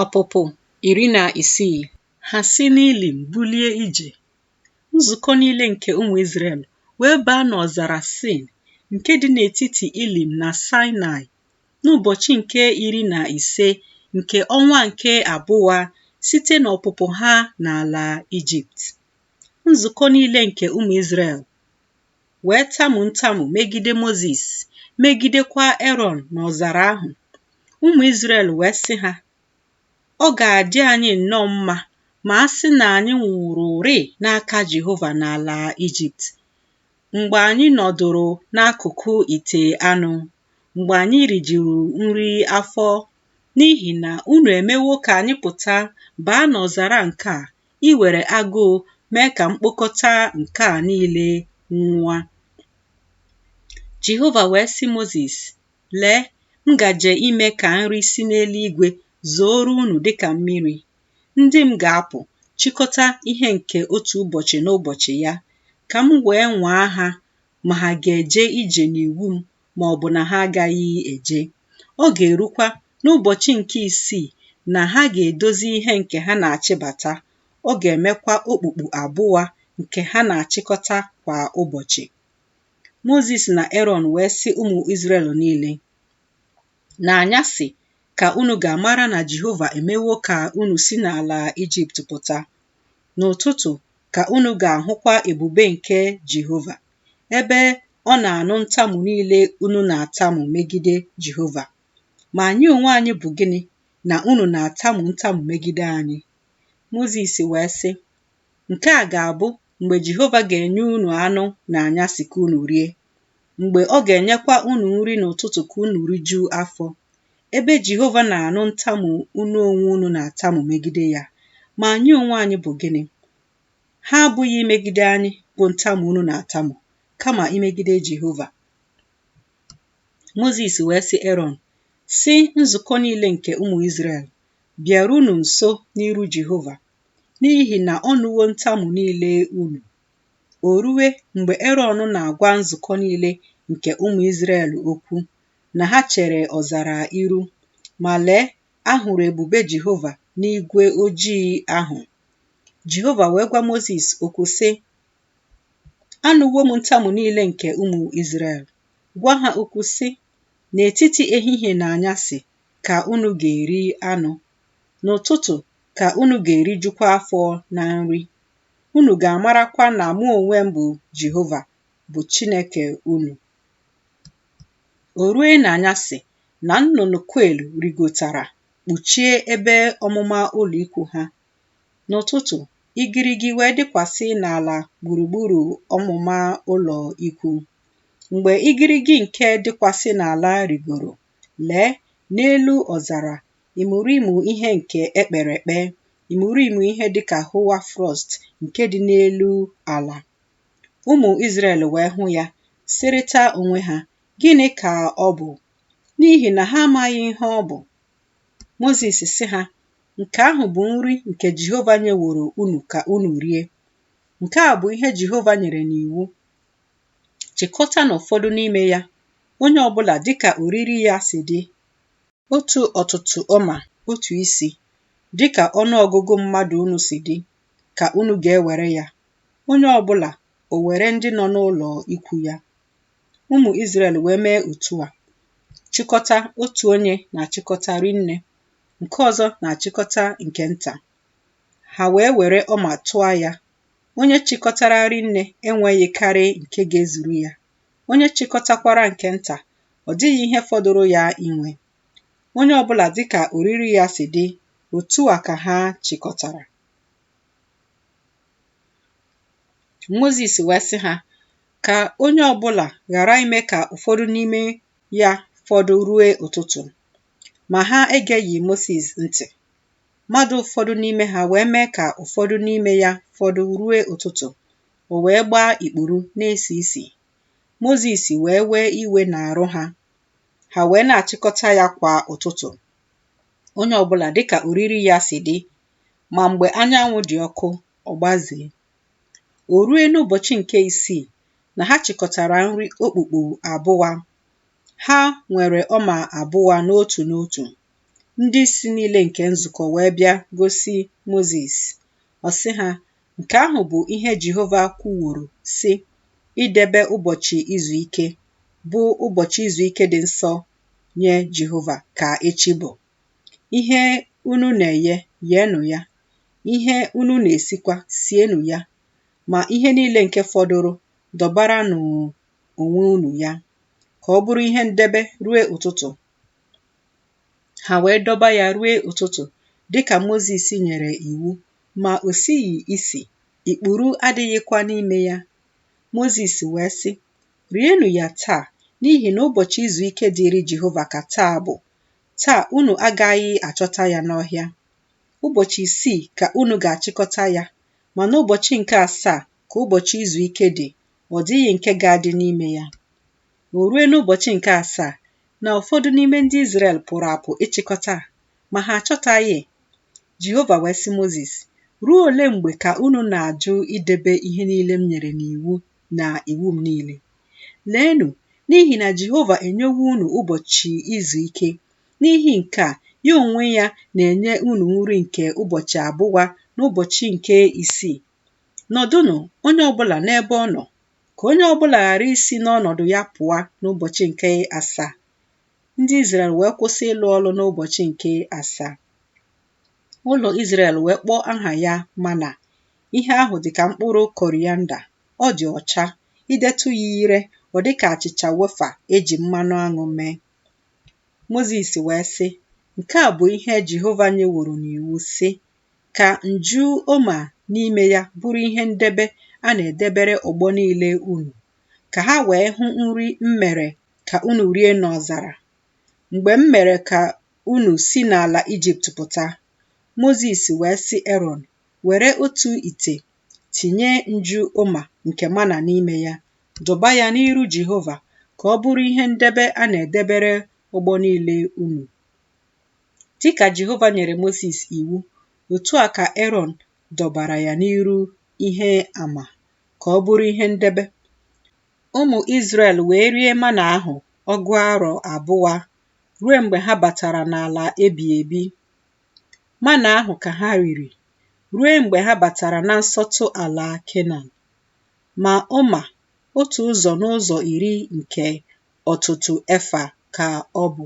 Ọpụpụ iri na isii Ha si n'Ilim bulie ije, nzukọ niile nke ụmụ Izrel wee baa n'ọzara Sin nke dị n'etiti Ilim na Saịnaị n'ụbọchị nke iri na ise nke ọnwa nke abụa site n'ọpụpụ ha n'ala Ijipt. Nzukọ niile nke ụmụ Izrel wee tamu ntamu megide Mozis, megidekwa Erọn n'ọzara ahụ. Ụmụ Izrel wee sị ha, Ọ ga-adị anyị nnọọ mma ma a sị na anyị nwụrụrị n'aka Jehova n'ala Ijipt, mgbe anyị nọdụrụ n'akụkụ ite anụ, mgbe anyị rijuru nri afọ, n'ihi na unu emewo ka anyị pụta baa n'ọzara nke a iwere agụụ mee ka mkpokọta nke a niile nwụa. Jehova wee sị Mozis, Lee, m gaje ime ka nri si n'eluigwe zooro unu dịka mmiri. Ndị m ga-apụ chịkọta ihe nke otu ụbọchị n'ụbọchị ya, ka m wee nwaa ha ma ha ga-eje ije n'iwu m ma ọ bụ na ha agaghị eje. Ọ ga-erukwa n'ụbọchị nke isii na ha ga-edozi ihe nke ha na-achịbata, ọ ga-emekwa okpukpu abụa nke ha na-achịkọta kwa ụbọchị. Mozis na Erọn wee sị ụmụ Izrel niile, N'anyasị ka unu ga-amara na Jehova emewo ka unu si n'ala Ijipt pụta. N'ụtụtụ ka unu ga-ahụkwa ebube nke Jehova. ebe ọ na-anụ ntamu niile unu na-atamu megide Jehova. Ma anyị onwe anyị bụ gịnị na unu na-atamu ntamu megide anyị? Mozis wee sị, Nke a ga-abụ mgbe Jehova ga-enye unu anụ n'anyasị ka unu rie, mgbe ọ ga-enyekwa unu nri n'ụtụtụ ka unu rijuo afọ, ebe Jehova na-anụ ntamu unu onwe unu na-atamu megide ya. Ma anyị onwe anyị bụ gịnị? Ha abụghị imegide anyị bụ ntamu unu na-atamu, kama imegide Jehova. Mozis wee sị Erọn, sị nzukọ niile nke ụmụ Izrel, bịarunu nso n'iru Jehova, n'ihi na ọ nụwo ntamu niile unu. O rue mgbe Erọn na-agwa nzukọ niile nke ụmụ Izrel okwu, na ha chere ọzara iru, ma lee, a hụrụ ebube Jehova n'igwe ojii ahụ. Jehova wee gwa Mozis okwu sị, Anụwo m ntamu niile nke ụmụ Izrel. Gwa ha okwu sị, N'etiti ehihie na anyasị ka unu ga-eri anụ, n'ụtụtụ ka unu ga-erijukwa afọ na nri. Unu ga-amarakwa na mụ onwe m bụ Jehova, bụ Chineke unu. O rue n'anyasị na nnụnụ kwel rigotara kpuchie ebe ọmụma ụlọikwuu ha. N'ụtụtụ, igirigi wee dịkwasị n'ala gburugburu ọmụma ụlọikwuu. Mgbe igirigi nke dịkwasị n'ala rịgoro, lee, n'elu ọzara, imurimu ihe nke e kpere ekpe, imurimu ihe dị ka hoar frost nke dị n'elu ala. Ụmụ Izrel wee hụ ya, sịrịta onwe ha, Gịnị ka ọ bụ? n'ihi na ha amaghị ihe ọ bụ. Mozis sị ha, Nke ahụ bụ nri nke Jehova nyeworo unu ka unu rie. Nke a bụ ihe Jehova nyere n'iwu. Chịkọtanụ ụfọdụ n'ime ya, onye ọbụla dịka oriri ya si dị, otu ọtụtụ omer otu isi, dịka ọnụ ọgụgụ mmadụ unu si dị, ka unu ga-ewere ya, onye ọbụla o were ndị nọ n'ụlọ ikwu ya. Ụmụ Izrel wee mee otu a, chịkọta otu onye na-achịkọta rinne, nke ọzọ na-achịkọta nke nta. Ha wee were omer tụọ ya. Onye chịkọtara rinne enweghị karị nke ga-ezuru ya. Onye chịkọtakwara nke nta, ọ dịghị ihe fọdụrụ ya inwe. Onye ọbụla dịka oriri ya si dị, otu a ka ha chịkọtara. Mozis wee sị ha ka onye ọbụla ghara ime ka ụfọdụ n'ime ya fọdụ rue ụtụtụ ma ha egeghị Mozis ntị mmadụ ụfọdụ n'ime ha wee mee ka ụfọdụ n'ime ya fọdụ rue ụtụtụ o wee gbaa ikpuru na-esi isi Mozis wee wee iwe n'arụ ha ha wee na-achịkọta ya kwa ụtụtụ onye ọbụla dịka oriri ya si dị Ma mgbe anyanwụ dị ọkụ, ọ gbazee. O rue n'ụbọchị nke isii na ha chịkọtara nri okpukpu abụa. Ha nwere omer abụa n'otu n'otu. Ndị isi niile nke nzukọ wee bịa gosi Mozis. Ọ sị ha, Nke ahụ bụ ihe Jehova kwuworo, sị, Idebe ụbọchị izu ike, bụ ụbọchị izu ike dị nsọ nye Jehova, ka echi bụ. Ihe unu na-eghe, gheenụ ya, ihe unu na-esikwa, sienụ ya, ma ihe niile nke fọdụrụ, dọbaranụ onwe unu ya, ka ọ bụrụ ihe ndebe ruo ụtụtụ. Ha wee dọba ya ruo ụtụtụ, dị ka Mozis nyere iwu, ma o sighị isi, ikpuru adịghịkwa n'ime ya. Mozis wee sị, Rienụ ya taa, n'ihi na ụbọchị izu ike dịịrị Jehova ka taa bụ. Taa unu agaghị achọta ya n'ọhịa. Ụbọchị isii ka unu ga-achịkọta ya, ma n'ụbọchị nke asaa ka ụbọchị izu ike dị, ọ dịghị nke ga-adị n'ime ya. O rue n'ụbọchị nke asaa na ụfọdụ n'ime ndị Izrel pụrụ apụ ịchịkọta, ma ha achọtaghị. Jehova wee sị Mozis, Ruo ole mgbe ka unu na-ajụ idebe ihe niile m nyere n'iwu na iwu m niile. Leenụ, n'ihi na Jehova enyewo unu ụbọchị izu ike, n'ihi nke a, ya onwe ya na-enye unu nri nke ụbọchị abụwa n'ụbọchị nke isii. Nọdụnụ, onye ọbụla n'ebe ọ nọ, ka onye ọbụla ghara isi n'ọnọdụ ya pụọ n'ụbọchị nke asaa. Ndị Izrel wee kwụsị ịlụ ọlụ n'ụbọchị nke asaa. ụlọ Izrel wee kpọọ aha ya mana ihe ahụ dị ka mkpụrụ korianda ọ dị ọcha idetụ ya ire ọ dị ka achịcha wefa eji mmanụ aṅụ mee Mozis wee sị nke a bụ ihe Jehova nyeworo n'iwu sị ka nju oma n'ime ya bụrụ ihe ndebe a na-edebere ọgbọ niile unu ka ha wee hụ nri m mere ka unu rie n'ọzara mgbe m mere ka unu si n'ala Ijipt pụta. Mozis wee sị Erọn, Were otu ite, tinye nju oma nke mana n'ime ya, dọba ya n'iru Jehova ka ọ bụrụ ihe ndebe a na-edebere ọgbọ niile unu. Dị ka Jehova nyere Mozis iwu, otu a ka Erọn dọbara ya n'iru ihe ama ka ọ bụrụ ihe ndebe. Ụmụ Izrel wee rie mana ahụ ọgụ arọ abụwa ruo mgbe ha batara n'ala ebi ebi. Mana ahụ ka ha riri ruo mgbe ha batara na nsọtụ ala Kenan. Ma oma otu ụzọ n'ụzọ iri nke ọtụtụ efa ka ọ bụ.